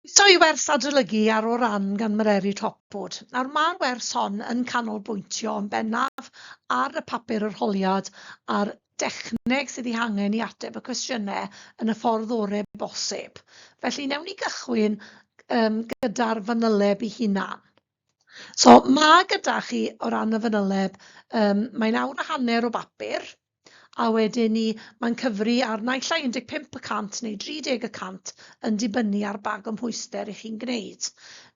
Croeso i wers adolygu ar o ran gan Mererid Hopwood. Nawr mae'r wers hon yn canolbwyntio yn bennaf ar y papur arholiad a'r dechneg sydd ei hangen i ateb y cwestiynau yn y ffordd orau bosib. Felly newn ni gychwyn um, gyda'r fanyleb ei hunan. So mae gyda chi o ran y fanyleb, um, mae'n awr a hanner o bapur, a wedyn 'ny mae'n cyfri ar naill ai 15 y cant neu 30 y cant yn dibynnu ar ba gymhwyster 'y chi'n gwneud.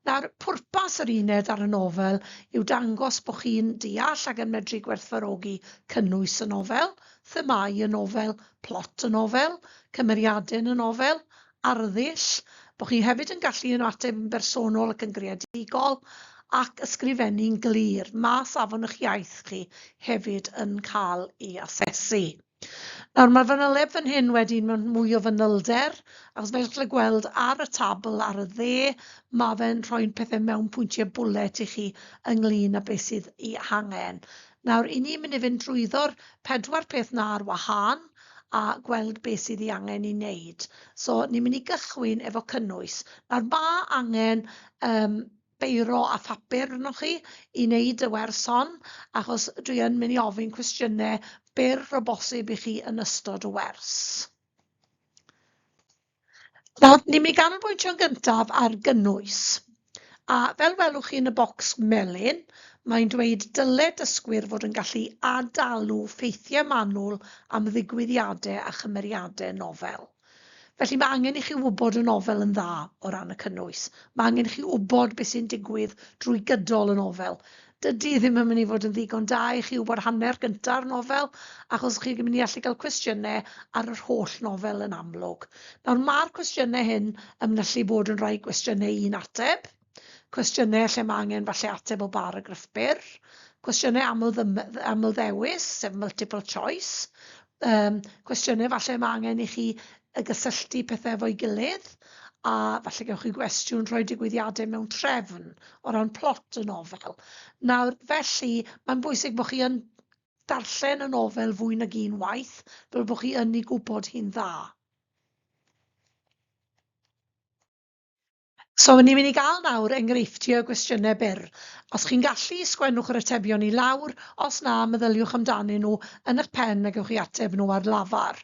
Nawr, pwrpas yr uned ar y nofel yw dangos bo' chi'n deall ac yn medru gwerthfawrogi cynnwys y nofel, themâu y nofel, plot y nofel, cymeriadau yn y nofel, arddull, bo chi hefyd yn gallu yno ateb yn bersonol ac yn greadigol, ac ysgrifennu'n glir, mae safon ych iaith chi hefyd yn cael ei asesu. Nawr, mae'r fanyleb fan hyn wedyn mewn mwy o fanylder, achos fel chi'n gweld ar y tabl ar y dde, mae fe'n rhoi'n pethau mewn pwyntiau bwlet i chi ynglyn â beth sydd ei hangen. Nawr, i ni mynd i fynd drwyddo'r pedwar peth 'na ar wahân a gweld be' sydd 'i angen 'i neud. So, ni'n mynd i gychwyn efo cynnwys. Nawr, ma' angen yym beiro a phapur arnoch chi i neud y wers hon, achos dwi yn mynd i ofyn cwestiyne byr o bosib i chi yn ystod y wers. Nawr, ni'n mynd i ganolbwyntio'n gyntaf ar gynnwys. A fel welwch chi yn y bocs melyn, mae'n dweud dyle dysgwyr fod yn gallu ad-alw ffeithiau manwl am ddigwyddiadau a chymeriadau nofel. Felly mae angen i chi wybod y nofel yn dda o ran y cynnwys. Mae angen i chi wybod beth sy'n digwydd drwy gydol y nofel. dydi ddim yn mynd i fod yn ddigon da i chi wybod hanner gynta'r nofel, achos chi'n mynd i allu cael cwestiynau ar yr holl nofel yn amlwg. Nawr, mae'r cwestiynau hyn yn mynyllu bod yn rhai cwestiynau un ateb, cwestiynau lle mae angen falle ateb o baragraff byr, cwestiynau aml, aml ddewis, sef multiple choice, um, cwestiynau falle mae angen i chi y gysylltu pethau efo'i gilydd, a falle gewch chi gwestiwn rhoi digwyddiadau mewn trefn o ran plot y nofel. Nawr, felly, mae'n bwysig bod chi yn darllen y nofel fwy nag un waith, fel bod chi yn ei gwybod hi'n dda. So, ni'n mynd i gael nawr enghreifftiau o gwestiynau byr. Os chi'n gallu, sgwennwch yr atebion i lawr, os na, meddyliwch amdanyn nhw yn eich pen a gewch chi ateb nhw ar lafar.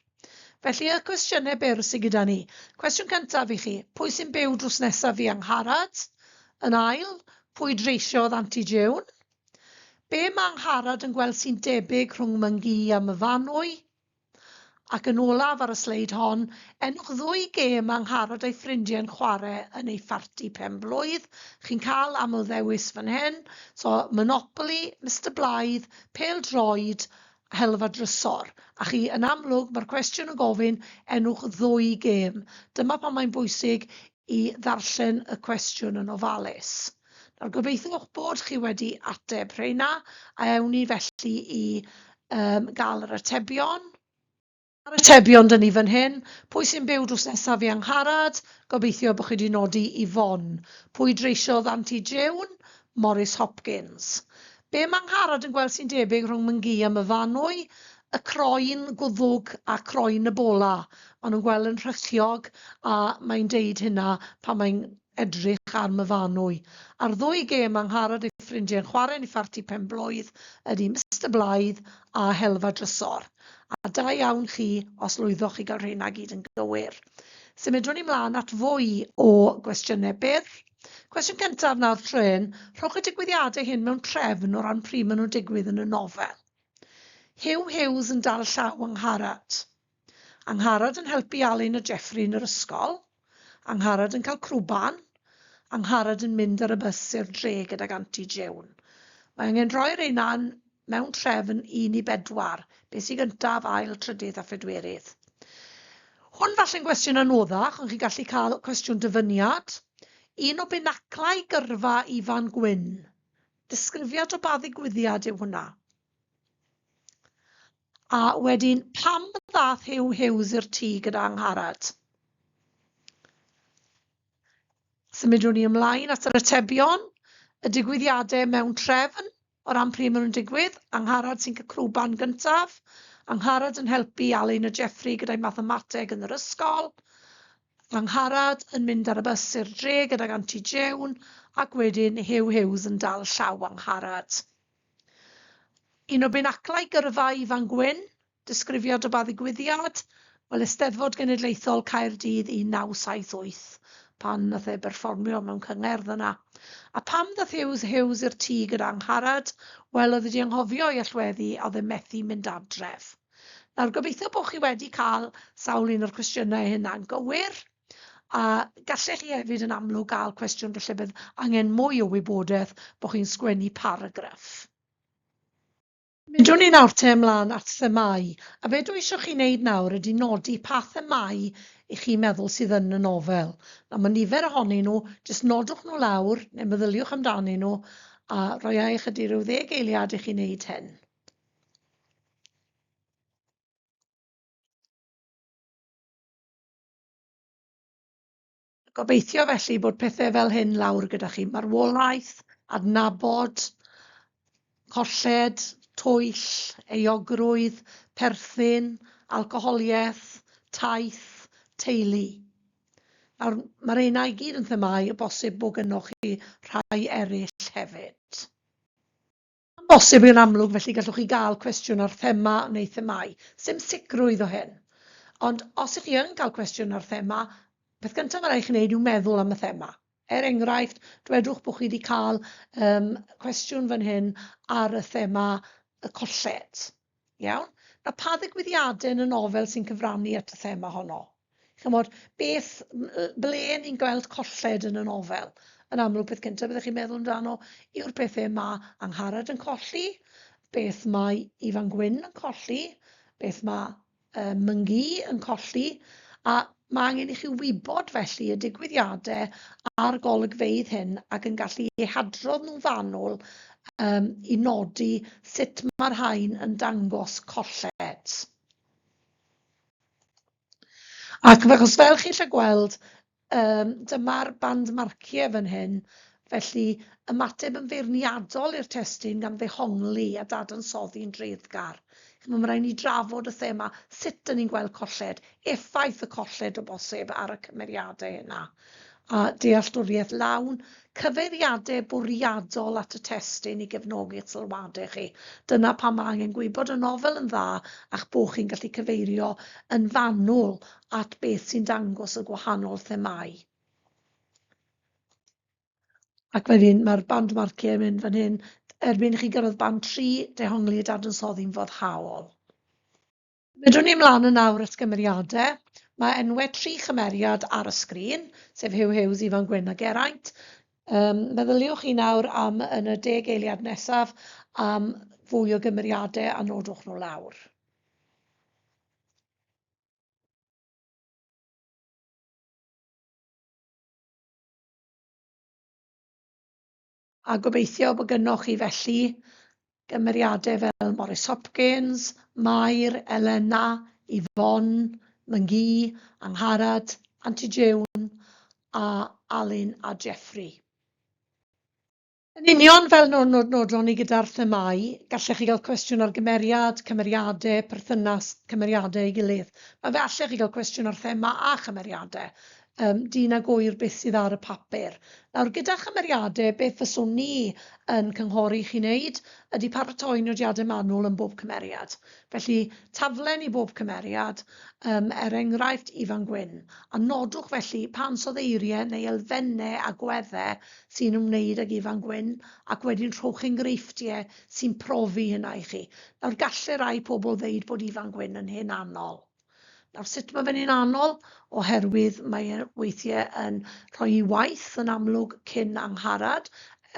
Felly, y cwestiynau byr sy gyda ni. Cwestiwn cyntaf i chi, pwy sy'n byw drws nesaf fi Angharad? Yn ail, pwy dreisiodd Anti June? Be mae Angharad yn gweld sy'n debyg rhwng Mangee a Myfanwy? Ac yn olaf ar y sleid hon, enwch ddwy gêm a Ngharad a'i ffrindiau yn chwarae yn eu pharti pen-blwydd. Chi'n cael aml-ddewis fan hyn, so Monopoly, Mister Blaidd, Pêl Droed, Helfa Drysor. A chi, yn amlwg, mae'r cwestiwn yn gofyn enwch ddwy gêm. Dyma pam mae'n bwysig i ddarllen y cwestiwn yn ofalus. Nawr, gobeithiwch bod chi wedi ateb rheina, a ewn ni felly i um, gael yr atebion. A'r atebion dyn ni fan hyn, pwy sy'n byw drws nesaf i Angharad? Gobeithio bod chi wedi nodi i Fon. Pwy dreisiodd Anti Jiwn? Morris Hopkins. Be mae Ngharad yn gweld sy'n debyg rhwng Mnghi a Myfanwy? Y croen gwddwg a croen y bola. Maen nhw'n gweld yn rhychiog a mae'n deud hynna pan mae'n edrych ar Myfanwy. A'r ddwy gêm mae Ngharad ei ffrindiau yn chwarae yn ei pharti pen-blwydd ydy Mister Blaidd a Helfa Drysor. A da iawn chi os lwyddoch i gael rheina gyd yn gywir. Symudwn ni mlaen at fwy o gwestiynau byr. Cwestiwn cyntaf nawr, Trên, rhowch y digwyddiadau hyn mewn trefn o ran pryd maen nhw'n digwydd yn y nofel. Huw Hughes yn dal llaw Angharad. Angharad yn helpu Alun a Jeffrey yn yr ysgol. Angharad yn cael crwban. Angharad yn mynd ar y bws i'r dre gydag Anti Jewn. Mae angen rhoi'r ein mewn trefn un i bedwar, beth sy'n gyntaf, ail, trydydd a phedwerydd. Hwn falle'n gwestiwn anoddach, ond chi'n gallu cael cwestiwn dyfyniad. Un o binaclau gyrfa Ifan Gwyn. Disgrifiad o ba ddigwyddiad yw hwnna? A wedyn, pam ddath Huw Hughes i'r tŷ gyda Angharad? Symudwn ni ymlaen at yr atebion, y digwyddiadau mewn trefn, O ran pryd maen nhw'n digwydd, Angharad sy'n cael crwban gyntaf. Angharad yn helpu i Alun a Jeffrey gyda'i mathemateg yn yr ysgol. Angharad yn mynd ar y bws i'r dre gydag Anti Jewn ac wedyn Huw Hughes yn dal llaw Angharad. Un o binaclau gyrfa Ifan Gwyn Disgrifio dy ba ddigwyddiad? Wel, Eisteddfod Genedlaethol Caerdydd 1978, pan ddath e berfformio mewn cyngerdd yna. A pam ddath Huws Hughes i'r tŷ gyda Angharad? Wel, oedd e 'di anghofio ei allweddi a oedd e methu mynd adref. Nawr, gobeithio bod chi wedi cael sawl un o'r cwestiynau hynna'n gywir, a gallech chi hefyd yn amlwg gael cwestiwn falle bydd angen mwy o wybodaeth bod chi'n sgwennu paragraff. Symudwn ni nawr te ymlaen at themâu, a be dwi isio chi wneud nawr ydy nodi pa themâu i chi meddwl sydd yn y nofel. Nawr mae nifer ohonyn nhw, jyst nodwch nhw lawr, neu meddyliwch amdanyn nhw, a rhoi ai ychydig rhyw ddeg eiliad i chi wneud hyn. Gobeithio felly bod pethe fel hyn lawr gyda chi. Marwolaeth, adnabod, colled, twyll, euogrwydd, perthyn, alcoholiaeth, taith, teulu. Nawr, mae'r rheina i gyd yn themâu y bosib bod gynnoch chi rhai eraill hefyd. Am bosib yn amlwg felly gallwch chi gael cwestiwn ar thema neu themâu. Sdim sicrwydd o hyn. Ond os ych chi yn cael cwestiwn ar thema, peth gyntaf mae'n rhaid i chi wneud yw meddwl am y thema. Er enghraifft, dwedwch bod chi wedi cael um, cwestiwn fan hyn ar y thema y colled. Iawn? A pa ddigwyddiadau yn y nofel sy'n cyfrannu at y thema honno? Chymod, beth, ble ni'n gweld colled yn y nofel? Yn amlwg, peth cyntaf byddwch chi'n meddwl amdano yw'r pethau mae Angharad yn colli, beth mae Ifan Gwyn yn colli, beth mae uh, Myngi yn colli, a Mae angen i chi wybod felly y digwyddiadau a'r golygfeydd hyn ac yn gallu eu hadrodd nhw'n fanwl um, i nodi sut mae'r rhain yn dangos colled. Ac achos fel chi'n lle gweld, um, dyma'r band marciau fan hyn, Felly, ymateb yn feirniadol i'r testun gan ddehongli a dadansoddi'n dreiddgar. Ch'mo', ma' raid ni drafod y thema, sut 'dyn ni'n gweld colled, effaith y colled o bosib ar y cymeriadau yna, a dealltwriaeth lawn, cyfeiriadau bwriadol at y testun i gefnogi'ch sylwadau chi. Dyna pam ma' angen gwybod y nofel yn dda a'ch bo' chi'n gallu cyfeirio yn fanwl at beth sy'n dangos y gwahanol themâu. Ac mae fi'n... mae'r band marquee yn mynd fan hyn. Erbyn i chi gyrraedd band tri, dehongli y dadansoddi'n foddhaol. Medrwn ni ymlaen yn awr at gymeriadau. Mae enwau tri chymeriad ar y sgrin, sef Huw Hughes, Ifan Gwyn a Geraint. Um, meddyliwch chi nawr am yn y deg eiliad nesaf am fwy o gymeriadau a nodwch nhw lawr. A gobeithio bod gynnoch chi felly gymeriadau fel Morris Hopkins, Mair, Elena, Yvonne, Mngi, Angharad, Anti Jewn a Alun a Jeffrey. Yn union fel no- no- nodon ni gyda'r themâu, gallech chi gael cwestiwn ar gymeriad, cymeriadau, perthynas cymeriadau ei gilydd. Mae fe allech chi gael cwestiwn ar thema a chymeriadau, um, dyn ag oer beth sydd ar y papur. Nawr, gyda chymeriadau, beth fyswn ni yn cynghori chi wneud ydy paratoi nodiadau manwl yn bob cymeriad. Felly, taflen i bob cymeriad, um, er enghraifft Ifan Gwyn, a nodwch felly pan soddeiriau neu elfennau agweddau sy'n ymwneud ag Ifan Gwyn, ac wedyn rhowch enghreifftiau sy'n profi hynna i chi. Nawr, gallai rai pobl ddeud bod Ifan Gwyn yn hen anol. Nawr, sut mae fe'n hen anol? Oherwydd mae e weithiau yn rhoi ei waith yn amlwg cyn Angharad,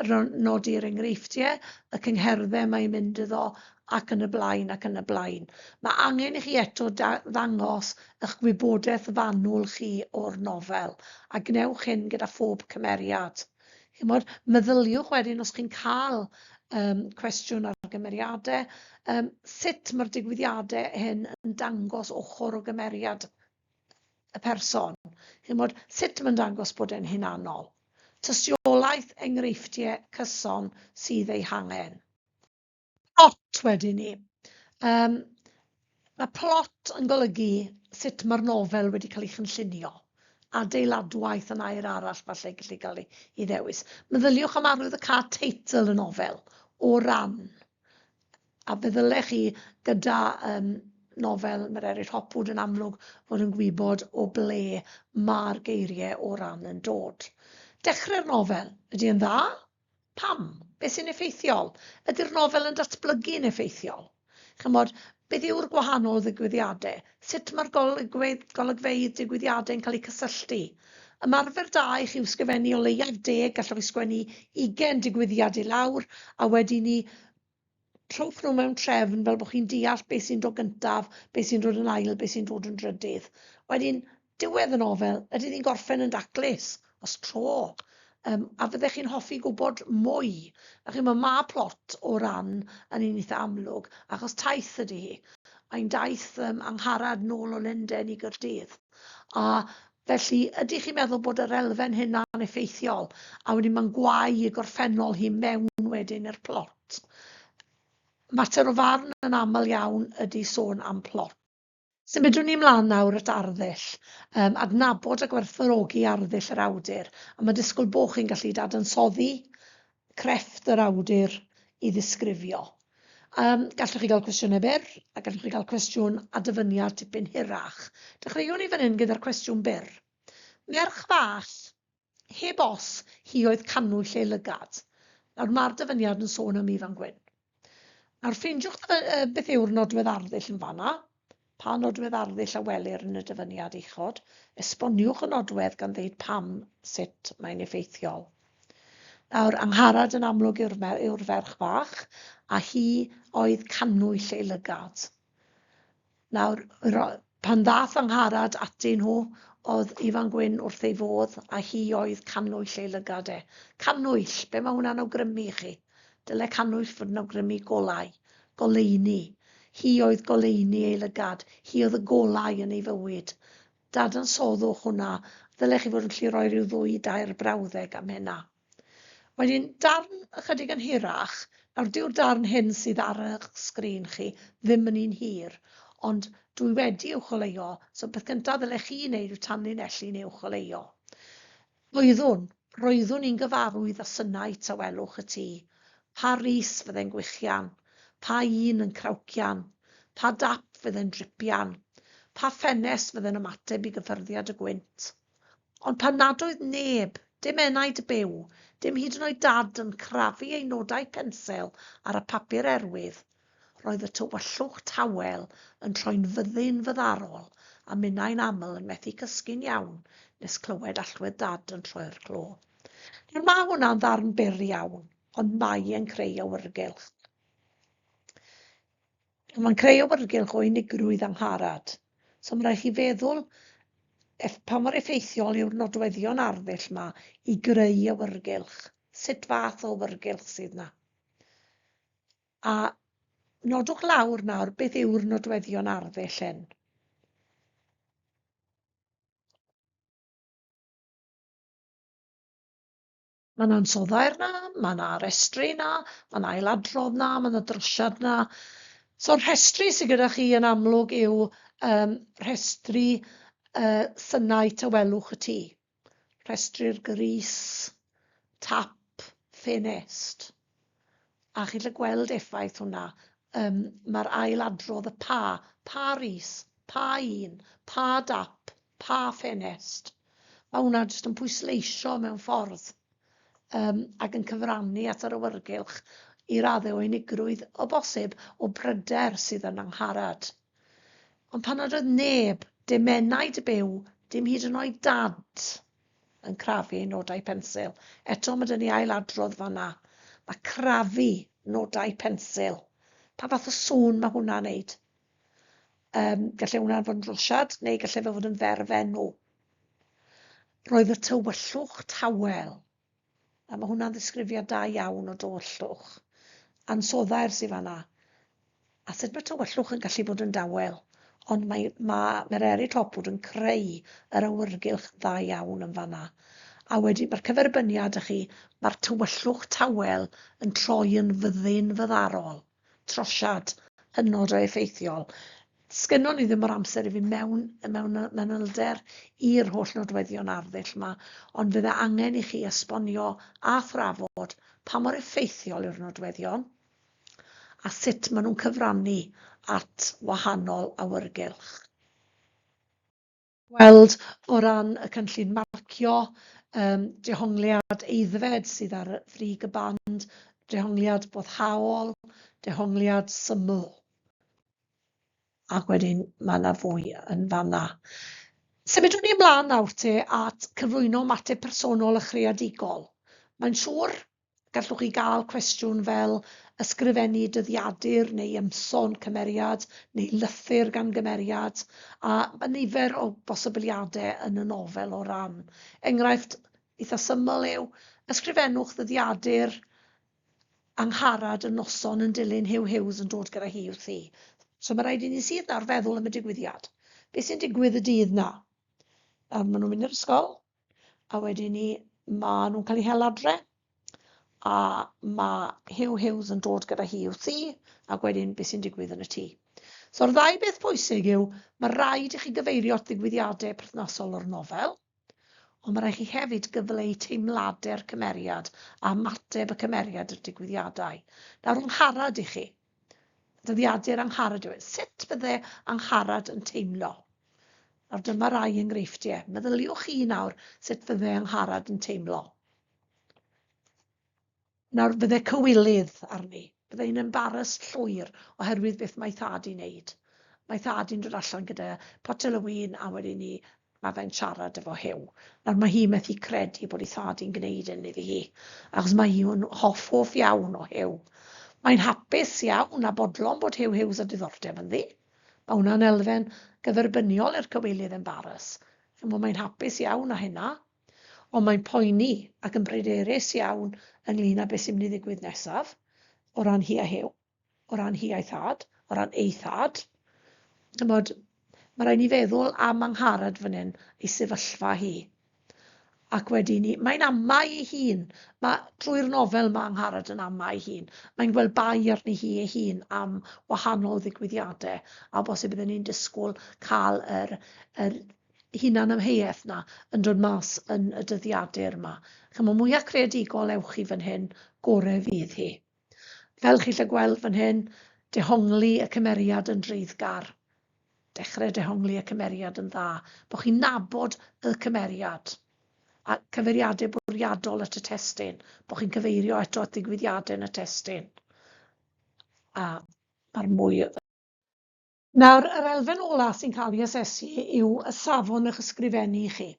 er nodi'r enghreifftiau, y cyngherddau mae'n mynd iddo ac yn y blaen ac yn y blaen. Mae angen i chi eto ddangos eich gwybodaeth fanwl chi o'r nofel, a gwnewch hyn gyda phob cymeriad. Chymod, meddyliwch wedyn os chi'n cael um, cwestiwn ar gymeriadau, um, sut mae'r digwyddiadau hyn yn dangos ochr o gymeriad y person. Chymod, sut mae'n dangos bod e'n hunanol. Tystiolaeth enghreifftiau cyson sydd ei hangen. Plot wedyn 'ny. Yym ma' plot yn golygu sut ma'r nofel wedi cael ei chynllunio, adeiladwaith yn air arall falle gallu cael ei ei ddewis. Meddyliwch am arwydd y cad teitl y nofel, o ran, a fe ddyle chi gyda yym nofel Mererid Hopwood yn amlwg fod yn gwybod o ble ma'r geirie o ran yn dod. Dechre'r nofel, ydy e'n dda? Pam? Beth sy'n effeithiol? Ydy'r nofel yn datblygu'n effeithiol? Chymod, beth yw'r gwahanol ddigwyddiadau? Sut mae'r golygfeydd, golygfeydd digwyddiadau yn cael eu cysylltu? Ymarfer da i chi yw sgrifennu o leiaf deg, gallwch chi sgwennu ugain digwyddiad i lawr, a wedi ni trowch nhw mewn trefn fel bod chi'n deall beth sy'n dod gyntaf, beth sy'n dod yn ail, beth sy'n dod yn drydydd. Wedyn, diwedd y nofel, ydy ni'n gorffen yn daclus, os tro, um, a fyddech chi'n hoffi gwybod mwy. A chi, mae ma plot o ran yn un eitha amlwg, achos taith ydy hi. Mae'n daith um, angharad nôl o Lenden i Gyrdydd. A, felly, ydych chi'n meddwl bod yr elfen hynna'n effeithiol, a wedyn mae'n gwae y gorffennol hi mewn wedyn i'r plot. Mater o farn yn aml iawn ydy sôn am plot. Symudwn ni ymlaen nawr at arddull, um, adnabod a gwerthfawrogi arddull yr awdur, a mae disgwyl bo chi'n gallu dadansoddi crefft yr awdur i ddisgrifio. Um, gallwch chi gael cwestiynau byr, a gallwch chi gael cwestiwn a dyfyniad tipyn hirach. Dechreuwn ni fan hyn gyda'r cwestiwn byr. Merch fach, heb os, hi oedd canwyll ei lygad. Nawr mae'r dyfyniad yn sôn am Ifan Gwyn. Nawr ffeindiwch y, y, beth yw'r nodwedd arddull yn fanna. Pa nodwedd arddull a welir yn y dyfyniad uchod? Esboniwch y nodwedd gan ddeud pam sut mae'n effeithiol. Nawr, Angharad yn amlwg yw'r yw ferch fach, a hi oedd cannwyll ei lygad. Nawr, pan ddaeth fy ngharad atyn nhw, oedd Ifan Gwyn wrth ei fodd, a hi oedd cannwyll ei lygad e. Cannwyll! Be mae hwnna'n awgrymu i chi? Dyle cannwyll fod yn awgrymu golau. Goleuni. Hi oedd goleuni ei lygad. Hi oedd y golau yn ei fywyd. Dadansoddwch hwnna. Ddyle chi fod yn gallu rhoi rhyw ddwy i dair brawddeg am hynna. Mae'n un darn ychydig yn hirach, nawr dyw'r darn hyn sydd ar eich sgrin chi ddim yn un hir, ond dw i wedi uwcholeuo, so peth cyntaf ddylech chi wneud yw tanlinellu neu uwcholeuo. Roeddwn, roeddwn i'n gyfarwydd â synau tawelwch y tŷ. Pa rys fyddai'n gwichian? Pa un yn crawcian? Pa dap fyddai'n dripian? Pa ffenest fyddai'n ymateb i gyffyrddiad y gwynt? Ond pan nad oedd neb, dim enaid byw, dim hyd yn oed Dad yn crafu ei nodau pensel ar y papur erwydd, roedd y tywyllwch tawel yn troi'n fyddin fyddarol a minnau'n aml yn methu cysgu'n iawn nes clywed allwedd Dad yn troi'r clo. Nawr, mae hwnna'n ddarn byr iawn, ond mae e'n creu awyrgylch. Mae'n creu awyrgylch o unigrwydd angharad. So mae'n rhaid chi feddwl eff, pa mor effeithiol yw'r nodweddion arddull yma i greu awyrgylch. Sut fath o awyrgylch sydd yna. A nodwch lawr nawr beth yw'r nodweddion arddull hyn. Mae 'na ansoddair 'na, mae 'na restru 'na, mae 'na ailadrodd 'na, mae 'na drosiad 'na. So rhestru sydd gyda chi yn amlwg yw um, rhestru uh, synnau tawelwch y tŷ, rhestru'r gris, tap, ffenest. a chi'n gallu gweld effaith hwnna. Um, Mae'r ail adrodd y pa, pa ris, pa un, pa dap, pa ffenest. Mae hwnna jyst yn pwysleisio mewn ffordd um, ac yn cyfrannu at yr awyrgylch i raddau o unigrwydd o bosib o bryder sydd yn Angharad. Ond pan nad oedd neb, dim enaid byw, dim hyd yn oed dad, yn crafu nodau pensil. Eto, mae dyn ni ail adrodd fanna. Mae crafu nodau pensil. Pa fath o sŵn mae hwnna'n neud? Um, gallai hwnna'n fod yn rosiad neu gallai fe fod yn ferf enw. Roedd y tywyllwch tawel. A ma' hwnna'n ddisgrifiad da iawn o dywyllwch. Ansoddair sy fanna. A sut mae tywyllwch yn gallu bod yn dawel. Ond mae, ma' Mereri Topwood yn creu yr awyrgylch dda iawn yn fanna. A wedyn mae'r cyferbyniad, dych chi, mae'r tywyllwch tawel yn troi yn fyddin fyddarol. trosiad hynod o effeithiol. Sgynnon ni ddim yr amser i fynd mewn mewn manylder i'r holl nodweddion arddull yma, ond fydde angen i chi esbonio a thrafod pa mor effeithiol yw'r nodweddion a sut maen nhw'n cyfrannu at wahanol awyrgylch. weld o ran y cynllun marcio, yym, dehongliad aeddfed sydd ar y frig y band, dehongliad boddhaol, dehongliad syml. Ac wedyn mae yna fwy yn fanna. Symudwn ni ymlaen nawr te at cyflwyno ymateb personol a chreadigol. Mae'n siŵr Gallwch chi gael cwestiwn fel ysgrifennu dyddiadur neu ymson cymeriad neu lythyr gan gymeriad, a mae nifer o bosibiliadau yn y nofel o ran. Enghraifft eitha' syml yw, ysgrifennwch ddyddiadur Angharad y noson yn dilyn Huw Hughes yn dod gyda hi wrthi. So mae rhaid i ni sydd nawr feddwl am y digwyddiad. Be sy'n digwydd y dydd 'na? Nawr maen nhw'n mynd i'r ysgol, a wedyn ni maen nhw'n cael eu hel adre a mae Hugh Hughes yn dod gyda hi i'w thŷ ac wedyn beth sy'n digwydd yn y tŷ. So'r ddau beth pwysig yw mae rhaid i chi gyfeirio at ddigwyddiadau perthnasol o'r nofel, ond mae rhaid chi hefyd gyfleu teimladau'r cymeriad a ymateb y cymeriad i'r digwyddiadau. Nawr, yng ngharad i chi, Dyddiadur Angharad yw e. Sut fydde Angharad yn teimlo? Nawr dyma rai enghreifftiau. Meddyliwch chi nawr sut fydde Angharad yn teimlo. Nawr fydde cywilydd arni. Bydde hi'n embaras llwyr oherwydd beth mae thad i'n neud. Mae thad i'n dod allan gyda potel o win a wedyn ni Mae fe'n siarad efo Huw nawr, mae hi methu credu bod ei thad hi'n gneud hyn iddi hi, achos mae hi yn hoff hoff iawn o Huw. Mae'n hapus iawn a bodlon bod Huw Hughes â diddordeb ynddi. Mae hwnna'n elfen gyferbyniol i'r cywilydd embaras, chimod, mae'n hapus iawn â hynna, ond mae'n poeni ac yn bryderus iawn ynglŷn â beth sy'n mynd i ddigwydd nesaf, o ran hi a Huw. o ran hi a'i thad, o ran ei thad. Chymod, mae rhaid ni feddwl am Angharad fan hyn, ei sefyllfa hi. Ac wedi ni, mae'n amau ei hun. Mae trwy'r nofel mae Angharad yn amau ei hun. Mae'n gweld bai arni hi ei hun am wahanol ddigwyddiadau a bosib bydden ni'n disgwyl cael yr, yr hunan ymheuaeth na yn dod mas yn y dyddiadur yma. Chymod, mwyach creadigol ewch chi fan hyn, gore fydd hi. Fel chi'n gallu gweld fan hyn, dehongli y cymeriad yn dreiddgar. Dechrau dehongli y cymeriad yn dda, bod chi'n nabod y cymeriad, a cyfeiriadau bwriadol at y testun, bod chi'n cyfeirio eto at ddigwyddiadau yn y testun. A mae'r mwy Nawr, yr elfen olaf sy'n cael ei asesu yw y safon o'ch ysgrifennu chi.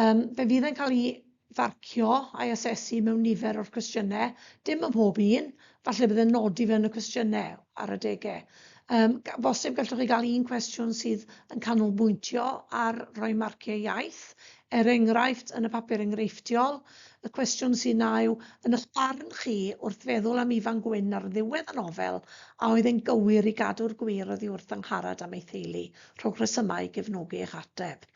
Um, fe fydd e'n cael ei farcio a'i asesu mewn nifer o'r cwestiynau, dim ym mhob un, falle bydd e'n nodi fe yn y cwestiynau ar adegau. Um, bosib gallwch chi gael un cwestiwn sydd yn canolbwyntio ar roi marciau iaith, er enghraifft yn y papur enghreifftiol, Y cwestiwn sy'n a yw, yn y'ch barn chi, wrth feddwl am Ifan Gwyn ar ddiwedd y nofel, a oedd e'n gywir i gadw'r gwir oddi wrth Angharad am ei theulu? Rhowch resymau i gefnogi eich ateb.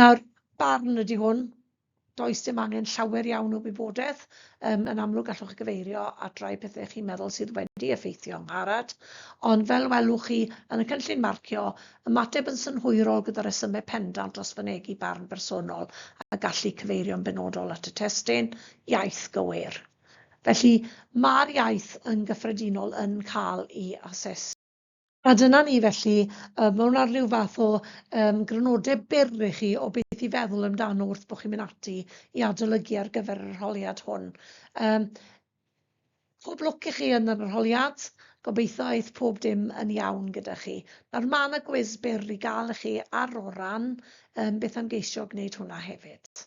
Nawr, barn ydi hwn. Does dim angen llawer iawn o wybodaeth. Yym, yn amlwg gallwch chi gyfeirio at rai pethe chi'n meddwl sydd wedi effeithio Angharad, ond fel welwch chi yn y cynllun marcio, Ymateb yn synhwyrol gyda rhesymau pendant dros fynegi barn bersonol a gallu cyfeirio'n benodol at y testun iaith gywir. Felly, mae'r iaith yn gyffredinol yn cael ei asesu. A dyna ni, felly. Mae hwn ar ryw fath o yym grynodeb byr i chi o beth i feddwl amdano wrth bo' chi'n mynd ati i adolygu ar gyfer yr arholiad hwn. Yym. Pob lwc i chi yn yr arholiad, gobeithio aeth pob dim yn iawn gyda chi. Nawr ma' 'na gwis byr i gael i chi ar o ran yym beth am geisio gwneud hwnna hefyd.